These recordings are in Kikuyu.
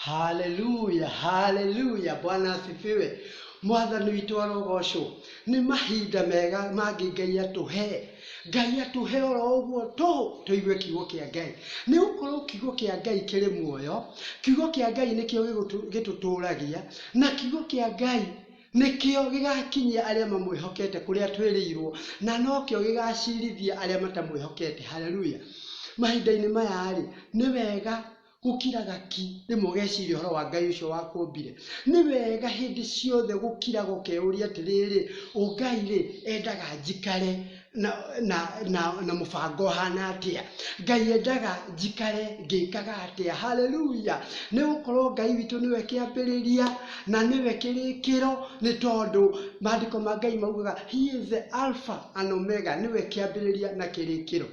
haleluya haleluya bwana asifiwe mwathani witũ arogocwo nĩ mahinda mega mangĩ ngai atũhe ngai atũhe oro ũguo tũ tũigue kiugo kĩa ngai nĩ gũkorwo kiugo kĩa ngai kĩrĩ muoyo kiugo kĩa ngai nĩkĩo gĩgũtũ- gĩtũtũragia na kiugo kĩa ngai Nĩkĩo gĩgaakinyia arĩa mamwĩhokete kũrĩa atwĩrĩirũo, na nokĩo gĩgaaciirithia arĩa matamwĩhokete. Haleluya! Mahinda-inĩ maya-rĩ, nĩ wega gũkiraga ki rĩmwe ũgeciria ũhoro wa Ngai ũcio wakũũmbire. Nĩ wega hĩndĩ ciothe gũkiraga ũkeũria atĩrĩrĩ, 'Ũũ Ngai-rĩ, endaga njikare na, na, na, na mũbango ũhana atĩa ngai endaga njikare ngĩkaga atĩa haleluya nĩ gũkorwo ngai witũ nĩwe kĩambĩrĩria na nĩwe kĩrĩkĩro nĩ tondũ maandĩko ma ngai maugaga he is the alpha and omega nĩwe kĩambĩrĩria na kĩrĩkĩro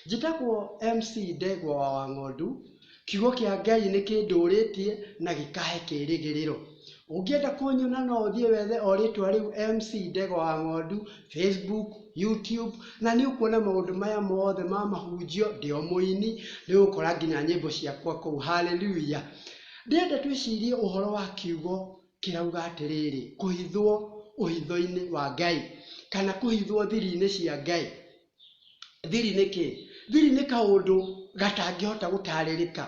njĩtagwo mc ndegwa wa wang'ondu Kiugo kĩa Ngai nĩ kĩndũũrĩtie na gĩkaahe kĩĩrĩgĩrĩro. Ũngĩenda kũnyona no ũthiĩ wethe o rĩtwa rĩu MC Ndegwa wa Ng'ondu, Facebook, YouTube, na nĩ ũkuona maũndũ maya mothe ma mahunjio, ndĩ o mũini, nĩ ũgũkora nginya nyĩmbo ciakwa kũu. Haleluya! Ndĩrenda twĩcirie ũhoro wa kiugo kĩrauga atĩrĩrĩ, kũhithwo ũhitho-inĩ wa Ngai, kana kũhithwo thiri-inĩ cia Ngai. Thiri nĩ kĩ? Thiri nĩ kaũndũ gatangĩhota gũtarĩrĩka.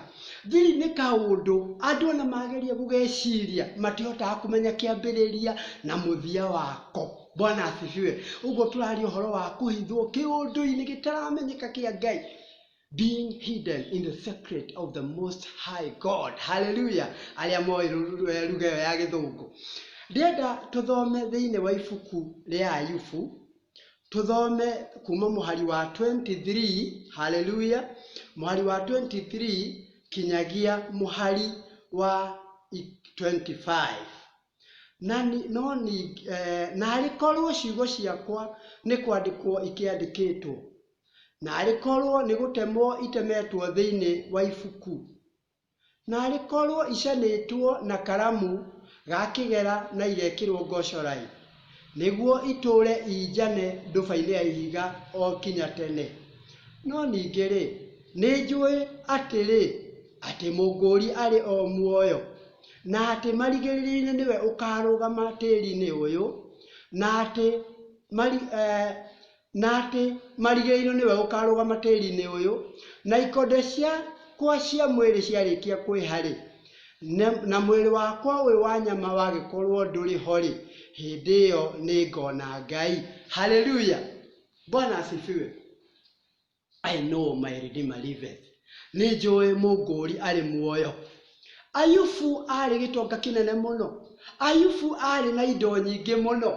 Thiri nĩ kaũndũ andũ ona mageria gũgeciria matihotaga kũmenya kĩambĩrĩria na mũthia wako. Bwana asifiwe. Ũguo tũraria ũhoro wa kũhithwo kĩũndũ-inĩ gĩtaramenyeka kĩa Ngai. being hidden in the secret of the most high god haleluya arĩa moĩ ru- ru- eh, lugha ĩyo ya gĩthũngũ ndĩrenda tũthome thĩinĩ wa ibuku rĩa ayubu tũthome kuma mũhari wa 23 haleluya mũhari wa 23 kinyagia mũhari wa i- 25 na ni- no ni eh, na arĩkorwo ciugo ciakwa nĩ kwandĩkwo ikĩandĩkĩtwo Naarĩ korũo nĩ gũtemwo itemetwo thĩinĩ wa ibuku! Naarĩ korũo icanĩtwo na karamu ga kĩgera na igekĩrũo ngocorai, nĩguo itũũre injane nduba-inĩ ya ihiga o nginya tene! No ningĩ-rĩ, nĩ njũĩ atĩrĩ, atĩ Mũngũũri arĩ o muoyo, na atĩ marigĩrĩrio-inĩ nĩwe ũkaarũgama tĩri-inĩ ũyũ, na atĩ na atĩ marigĩrĩirwo nĩwe ũkarũgama tĩri-inĩ ũyũ, na ikonde ciakwa cia mwĩrĩ ciarĩkia kwĩha-rĩ, na mwĩrĩ wakwa ũyũ wa nyama wagĩkorwo ndũrĩ ho-rĩ, hĩndĩ ĩyo nĩngona Ngai. Haleluya! Bwana asifiwe. I know my Redeemer liveth. Nĩ njũĩ mũngũũri arĩ muoyo. Ayubu aarĩ gĩtonga kĩnene mũno. Ayubu aarĩ na indo nyingĩ mũno.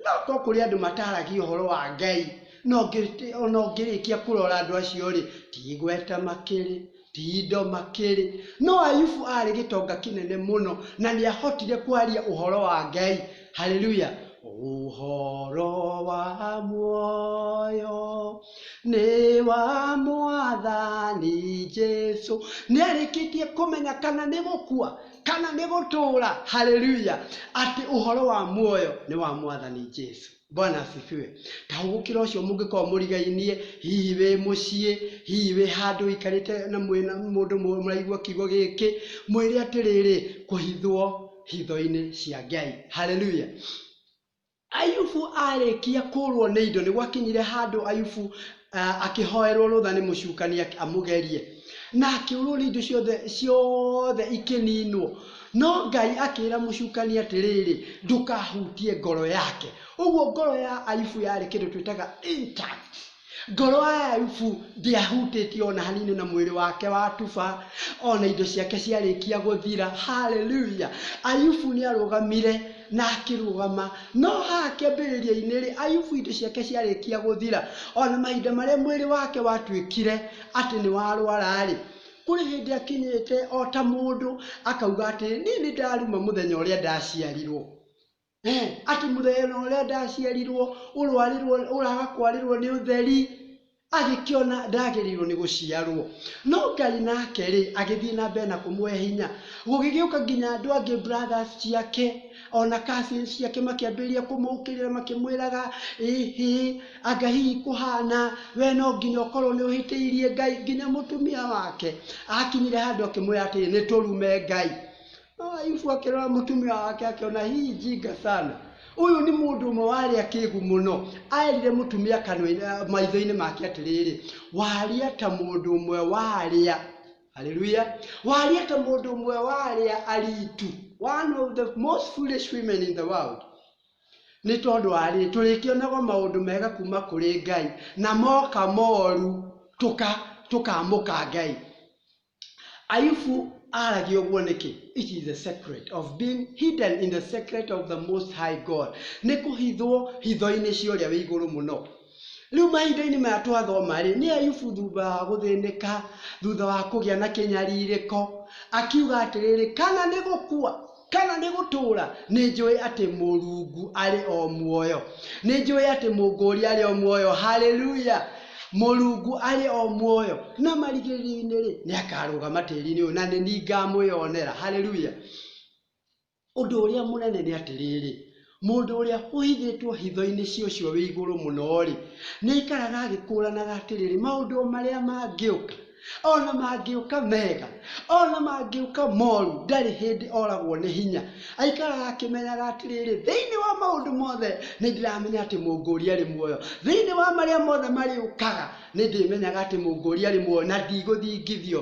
No korwo kũrĩ andũ mataaragia ũhoro wa Ngai, ona ũngĩrĩkia kũrora andũ acio-rĩ, ti igweta makĩrĩ, Ti-indo makĩrĩ. No Ayubu aarĩ gĩtonga kĩnene mũno na nĩ aahotire kwaria ũhoro wa Ngai. Haleluya! Ũhoro wa muoyo nĩ wa Mwathani Jesu. Nĩ arĩkĩtie kũmenya kana nĩ gũkua kana nĩ gũtũũra. Haleluya! Atĩ ũhoro wa muoyo nĩ wa Mwathani Jesu. bwana asifiwe ta hugukira ucio mungikorwo murigainie hihi wi mucii hihi wi handu ikarite na mwina mundu muraigua kiugo giki mwire atiriri kuhithwo hitho-ini cia ngai haleluya ayubu arĩkia kũrwo nĩ indo nĩ gwakinyire handũ ayubu ah, akĩhoerwo rũtha nĩ mũcukania amũgerie na akĩũrwo nĩ indo ciothe ciothe ikĩninwo no ngai akĩra mũcukania atĩrĩrĩ ndũkahutie ngoro yake ũguo ngoro ya aibu yarĩ kĩndũ twĩtaga intact ngoro ya aibu ndĩahutĩtie ona hanini na mwĩrĩ wake wa tuba ona indo ciake ciarĩkia gũthira haleluya aibu nĩ arũgamire Na akĩrũgama. No haha kĩambĩrĩria-inĩ-rĩ, Ayubu indo ciake ciarĩkia gũthira, o na mahinda marĩa mwĩrĩ wake watuĩkire atĩ nĩ warũara-rĩ, kũrĩ hĩndĩ akinyĩte o ta mũndũ akauga atĩrĩ, Niĩ nĩ ndaruma mũthenya ũrĩa ndaciarirũo. Ee, atĩ mũthenya ũrĩa ndaciarirũo, ũrũarĩrũo, ũraga kwarĩrũo nĩ ũtheri. agĩkĩona ndagĩrĩirwo nĩ gũciarwo. No Ngai nake-rĩ, agĩthiĩ na mbere na kũmũhe hinya. Gũgĩgĩũka nginya andũ angĩ brothers ciake, ona cousins ciake makĩambĩrĩria kũmũũkĩrĩra makĩmwĩraga, ĩhĩ, anga hihi kũhana, we no nginya ũkorwo nĩ ũhĩtĩirie Ngai. Nginya mũtumia wake akinyire handũ akĩmwĩra atĩrĩ, nĩ tũrume Ngai. Ah, Yusufu akĩrora mũtumia wake akĩona hii njinga sana ũyũ nĩ mũndũ ũmwe warĩa kĩgu mũno aerire mũtumia kanua maitho-inĩ make atĩrĩrĩ waria ta mũndũ ũmwe warĩa haleluya waria ta mũndũ ũmwe warĩa aritu one of the most foolish women in the world nĩ tondũ wa rĩrĩ tũrĩkĩonaga maũndũ mega kuma kũrĩ ngai na moka moru tũka tũkamũka ngai Ayubu aaragia ũguo nĩkĩ? It is the secret of being hidden in the secret of the most high God. Nĩ kũhithwo hitho-inĩ cia ũrĩa wĩ igũrũ mũno. Rĩu mahinda-inĩ maya twathoma rĩ, nĩ Ayubu thutha wa gũthĩnĩka, thutha wa kũgĩa na kĩnyarirĩko, akiuga atĩrĩrĩ, kana nĩ gũkua. Kana nĩ gũtũũra? Nĩ njũĩ atĩ Mũrungu arĩ o muoyo. Nĩ njũĩ atĩ Mũngũũri arĩ o muoyo. Haleluya! Mũrungu arĩ o muoyo. Na marigĩrĩrio-inĩ-rĩ, nĩ akarũgama tĩri-inĩ ũyũ, na nĩ niĩ ngamwĩonera. Haleluya! Ũndũ ũrĩa mũnene nĩ atĩrĩrĩ, Mũndũ ũrĩa ũhithĩtwo hitho-inĩ cia Ũcio wĩ Igũrũ Mũno-rĩ, nĩaikaraga agĩkũũranaga atĩrĩrĩ, Maũndũ o marĩa mangĩũka, o na mangĩũka mega, o na mangĩũka moru, ndarĩ hĩndĩ oragwo nĩ hinya. Aikaraga akĩmenyaga atĩrĩrĩ, Thĩinĩ wa maũndũ mothe nĩndĩramenya atĩ Mũngũũri arĩ muoyo. Thĩinĩ wa marĩa mothe marĩũkaga, nĩndĩmenyaga atĩ Mũngũũri arĩ muoyo na ndigũthingithio.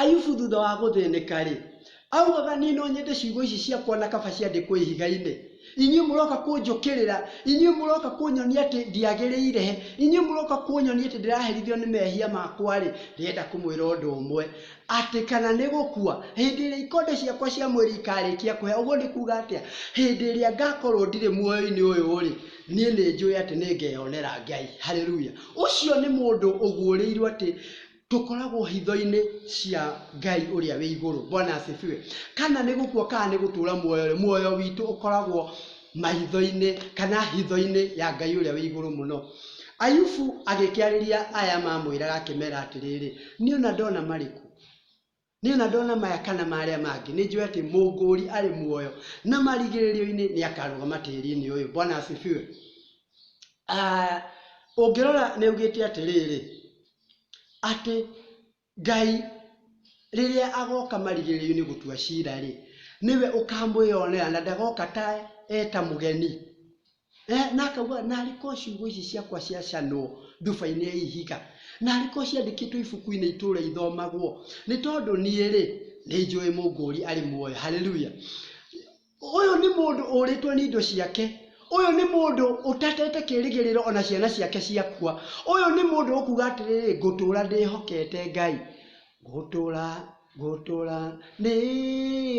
Ayubu thutha wa gũthĩnĩka-rĩ, augaga, Niĩ no nyende ciugo ici ciakwa na kaba ciandĩkwo ihiga-inĩ. Inyuĩ mũroka kũnjũkĩrĩra, inyuĩ mũroka kũnyonia atĩ ndiagĩrĩire, inyuĩ mũroka kũnyonia atĩ ndĩraherithio nĩ mehia makwa-rĩ, ndĩrenda kũmwĩra ũndũ ũmwe, atĩ kana nĩ gũkua, hĩndĩ ĩrĩa ikonde ciakwa cia mwĩrĩ ikarĩkia kũhĩa, ũguo nĩ kuuga atĩa? Hĩndĩ ĩrĩa ngakorwo ndirĩ muoyo-inĩ ũyũ-rĩ, niĩ nĩ njũĩ atĩ nĩngeyonera Ngai. Haleluya! Ũcio nĩ mũndũ ũguũrĩirwo atĩ tũkoragwo hitho-inĩ cia Ngai ũrĩa wĩ igũrũ. Bwana asifiwe. Kana nĩ gũkua kana nĩ gũtũũra muoyo-rĩ, muoyo witũ ũkoragwo maitho-inĩ kana hitho-inĩ ya Ngai ũrĩa wĩ igũrũ mũno. Ayubu agĩkĩarĩria aya mamwĩraga akĩmera atĩrĩrĩ, niĩ ona ndona marĩkũ? Nĩ ona ndona maya kana marĩa mangĩ, nĩ njũĩ atĩ mũngũũri arĩ muoyo na marigĩrĩrio-inĩ nĩ akarũgama tĩri-inĩ ũyũ. Bwana asifiwe. Ah, ũngĩrora nĩ augĩte atĩrĩrĩ, atĩ Ngai rĩrĩa agoka marigĩrĩrio-inĩ gũtua cira-rĩ, nĩwe ũkamwĩyonera na ndagoka ta eta mũgeni. Eh, na akauga na arĩ ko ciugo ici ciakwa ciacanwo nduba-inĩ ya ihiga na arĩ ko ciandĩkĩtwo ibuku-inĩ itũũra ithomagwo nĩ tondũ niĩ-rĩ nĩ njũĩ mũngũũri arĩ muoyo haleluya ũyũ nĩ mũndũ ũrĩtwo nĩ indo ciake ũyũ nĩ mũndũ ũtatete kĩrĩgĩrĩro ona ciana ciake ciakua ũyũ nĩ mũndũ ũkuga atĩrĩrĩ ngũtũũra ndĩhokete ngai Gũtũũra, gũtũũra, nĩ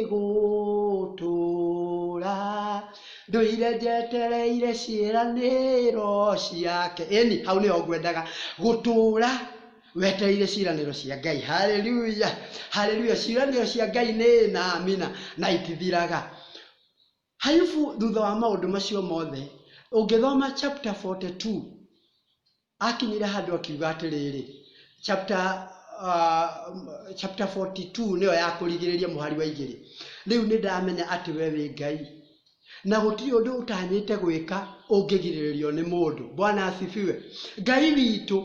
gũtũũra, Ndũire njetereire ciĩranĩro ciake. Ĩni, hau nĩho ngwendaga. Gũtũũra wetereire ciĩranĩro cia Ngai. Hallelujah! Hallelujah! Ciĩranĩro cia Ngai nĩ ĩĩ na amina, na itithiraga. Hayubu thutha wa maũndũ macio mothe, ũngĩthoma chapter 42, akinyire handũ akiuga atĩrĩrĩ, chapter, uh, chapter 42 nĩyo ya kũrigĩrĩria mũhari wa igĩrĩ, rĩu nĩ ndamenya atĩ we wĩ Ngai na gũtirĩ ũndũ ũtanyĩte gwĩka ũngĩgirĩrĩrio nĩ mũndũ. Bwana asifiwe. Ngai witũ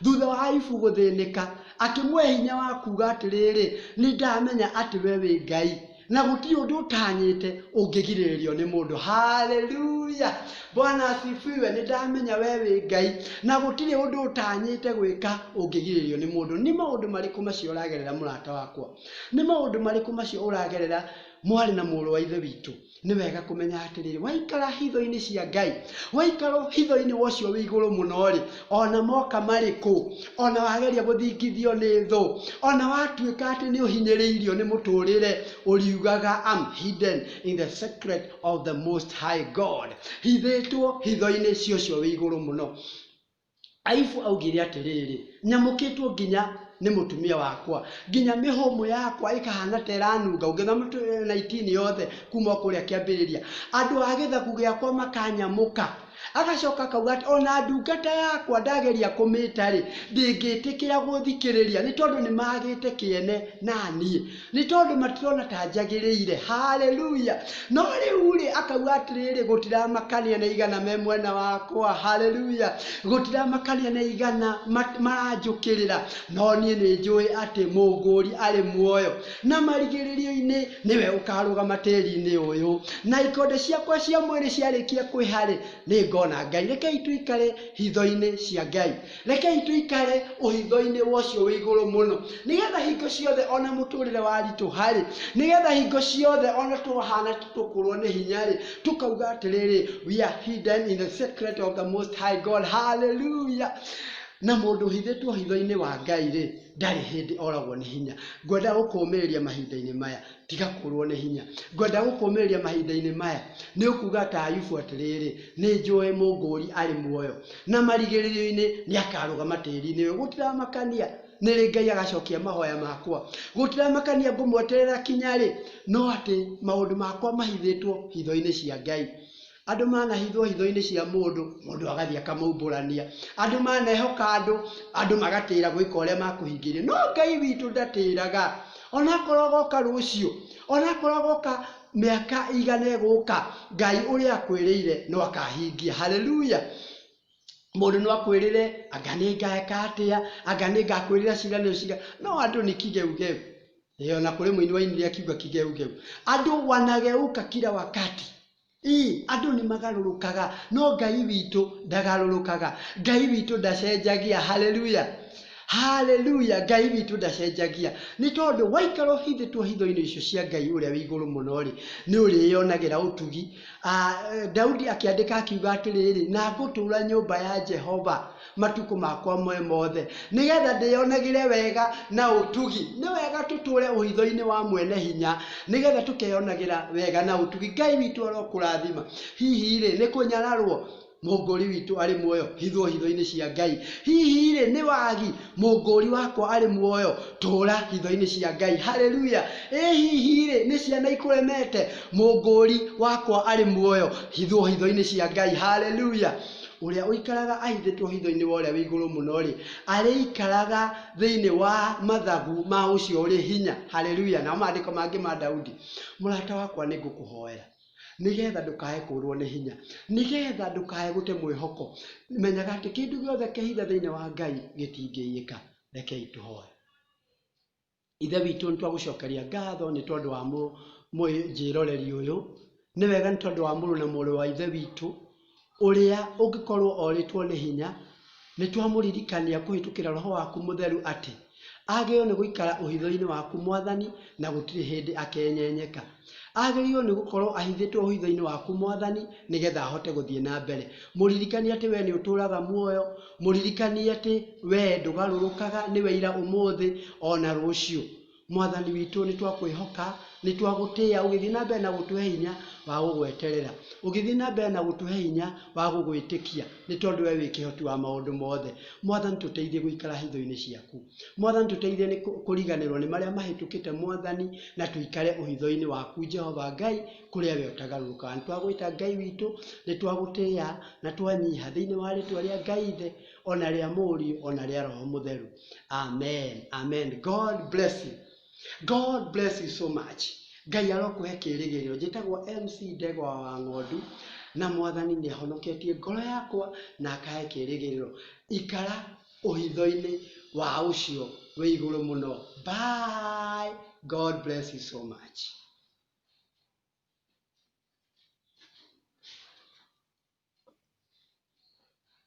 thutha wa Ayubu gũthĩnĩka akĩmũhe hinya wa kuuga atĩrĩrĩ, nĩ ndamenya atĩ we wĩ Ngai na gũtirĩ ũndũ ũtanyĩte ũngĩgirĩrĩrio nĩ mũndũ haleluya bwana asifiwe nĩ ndamenya we wĩ ngai na gũtirĩ ũndũ ũtanyĩte gwĩka ũngĩgirĩrĩrio nĩ mũndũ nĩ maũndũ marĩkũ macio ũragerera mũrata wakwa nĩ maũndũ marĩkũ macio ũragerera mwarĩ na mũrũ wa ithe witũ nĩ wega kũmenya atĩrĩrĩ waikara hitho-inĩ cia ngai waikara hitho-inĩ wa ũcio wĩ igũrũ mũno rĩ ona moka marĩkũ ona wageria gũthingithio nĩ thũ ona watuĩka atĩ nĩ ũhinyĩrĩirio nĩ mũtũrĩre ũriugaga am hidden in the secret of the most high god hithĩtwo hitho-inĩ cia ũcio wĩ igũrũ mũno aibu augire atĩrĩrĩ nyamũkĩtwo nginya nĩ mũtumia wakwa nginya mĩhũmũ yakwa ĩkahana ta ĩranunga ũngĩtha mũtũ na itini yothe kuma kũrĩa kĩambĩrĩria andũ a gĩthaku gĩakwa makanyamũka Agacoka akauga atĩ ona ndungata yakwa ndageria kũmĩta-rĩ, ndĩngĩtĩkĩra gũthikĩrĩria, nĩ tondũ nĩ magĩte kĩene na niĩ, nĩ tondũ matirona ta njagĩrĩire. Haleluya! No rĩu-rĩ, akauga atĩrĩrĩ, gũtiramakania na igana me mwena wakwa. Haleluya! Gũtiramakania na igana maranjũkĩrĩra, no niĩ nĩ njũĩ atĩ Mũngũri arĩ muoyo. na marigĩrĩrio-inĩ nĩwe ũkarũgama tĩri-inĩ ũyũ na ikonde ciakwa cia mwĩrĩ ciarĩkia kwĩharĩ nĩ ngona ngai rekei tũikare hitho-inĩ cia ngai rekei tũikare ũhitho-inĩ wocio wĩ igũrũ mũno nĩgetha hingo ciothe ona mũtũrĩre waritũ harĩ nĩgetha hingo ciothe ona twahana tũkũrwo nĩ hinya rĩ tũkauga atĩrĩrĩ we are hidden in the secret of the most high god hallelujah na mũndũ ũhithĩtwo hitho-inĩ wa ngai rĩ ndarĩ hĩndĩ oragwo nĩ hinya. Ngwenda gũkũũmĩrĩria mahinda-inĩ maya, tiga kũũrwo nĩ hinya. Ngwenda gũkũũmĩrĩria mahinda-inĩ maya, nĩ ũkuuga ta Ayubu atĩrĩrĩ, Nĩ njũĩ mũngũũri arĩ muoyo, na marigĩrĩrio-inĩ nĩ akaarũgama tĩri-inĩ ũyũ. Gũtiramakania nĩ rĩ Ngai agacokia mahoya makwa. Gũtiramakania ngũmweterera kinya rĩ, no atĩ maũndũ makwa mahithĩtwo hitho-inĩ cia Ngai. Andũ manahithwo hitho-inĩ cia mũndũ, mũndũ agathiĩ akamaumbũrania. Andũ manehoka andũ, andũ magatĩĩra gwĩka ũrĩa makũhingĩria. No Ngai witũ ndatĩĩraga. O na akorwo agoka rũciũ, o na akorwo agoka mĩaka ĩigana ĩgũka, Ngai ũrĩa akwĩrĩire no akahingia. Hallelujah! Mũndũ no akwĩrĩre, anga nĩ ngeka atĩa, anga nĩ ngakwĩrĩra ciĩranĩro cigana, no andũ nĩ kigeugeu. Ĩĩ o na kũrĩ mũini wainire akiuga kigeugeu. Andũ wanageuka kila wakati. Ii, andũ nĩ magarũrũkaga, no Ngai witũ ndagarũrũkaga. Ngai witũ ndacenjagia. Haleluya! Haleluya! Ngai witũ ndacenjagia. Nĩ tondũ waikara ũhithĩtwo hitho-inĩ icio cia Ngai ũrĩa wĩ igũrũ mũno-rĩ, nĩ ũrĩyonagĩra ũtugi. Daudi akĩandĩka akiuga atĩrĩrĩ, na ngũtũũra nyũmba ya Jehova. matukũ makwa mwe mothe nĩ getha ndĩyonagĩre wega na ũtugi nĩ wega tũtũre ũhitho-inĩ wa mwene hinya nĩ getha tũkeyonagĩra wega na ũtugi ngai witũ arokũrathima hihi rĩ nĩ kũnyararwo mũngũri witũ arĩ muoyo hithwo hitho-inĩ cia ngai hihi rĩ nĩ wagi mũngũri wakwa arĩ muoyo tũra hitho-inĩ cia ngai haleluya ĩ hihi rĩ nĩ ciana ikũremete mũngũri wakwa arĩ muoyo hithwo hitho-inĩ cia ngai haleluya Ũrĩa ũikaraga ahithĩtwo hitho-inĩ wa Ũrĩa wĩ Igũrũ Mũno-rĩ, arĩikaraga thĩinĩ wa mathagu ma ũcio ũrĩ hinya. Haleluya! Namo maandĩko mangĩ ma Daudi, mũrata wakwa nĩ ngũkũhoera nĩgetha ndũkae kũrwo nĩ hinya, nĩgetha ndũkae gũte mwĩhoko. Menyaga atĩ kĩndũ gĩothe kĩhithe thĩinĩ wa Ngai gĩtingĩiyĩka. Rekei tũhoe. Ithe witũ nĩ twagũcokeria ngatho nĩ tondũ wa mwĩnjĩroreri ũyũ. Nĩ wega nĩ tondũ wa mũrũ na mũrũ wa Ithe witũ, ũrĩa ũngĩkorwo orĩtwo nĩ hinya, nĩ twamũririkania kũhĩtũkĩra Roho waku Mũtheru atĩ, agĩrĩirwo nĩ gũikara ũhitho-inĩ waku Mwathani, na gũtirĩ hĩndĩ akenyenyeka. Agĩrĩirwo nĩ gũkorwo ahithĩtwo ũhitho-inĩ waku, Mwathani, nĩ getha ahote gũthiĩ na mbere. Mũririkanie atĩ wee nĩ ũtũũraga muoyo. Mũririkanie atĩ wee ndũgarũrũkaga, nĩwe ira, ũmũthĩ, o na rũciũ. Mwathani witũ, nĩ twakwĩhoka, nĩ twagũtĩa, ũgĩthiĩ na mbere na gũtũhe hinya wa gũgweterera. Ũgĩthiĩ na mbere na gũtũhe hinya wa gũgwĩtĩkia, nĩ tondũ wee wĩ kĩhoti wa maũndũ mothe. Mwathani, tũteithie gũikara hitho-inĩ ciaku. Mwathani, tũteithie nĩ kũ- kũriganĩrwo nĩ marĩa mahĩtũkĩte Mwathani, na tũikare ũhitho-inĩ waku Jehova Ngai, kũrĩa we ũtagarũrũkaga. Nĩ twagwĩta Ngai witũ, nĩ twagũtĩĩa na twanyiha thĩinĩ wa rĩtwa rĩa Ngai Ithe, o na rĩa Mũriũ, o na rĩa Roho Mũtheru. Amen. Amen. God bless you. God bless you so much. Ngai arokũhe kĩĩrĩgĩrĩro. Njĩtagwo MC Ndegwa wa Ng'ondu, na Mwathani nĩ ahonoketie ngoro yakwa na akahe kĩĩrĩgĩrĩro. Ikara ũhithoinĩ wa ũcio wĩ igũrũ mũno bye God bless you so much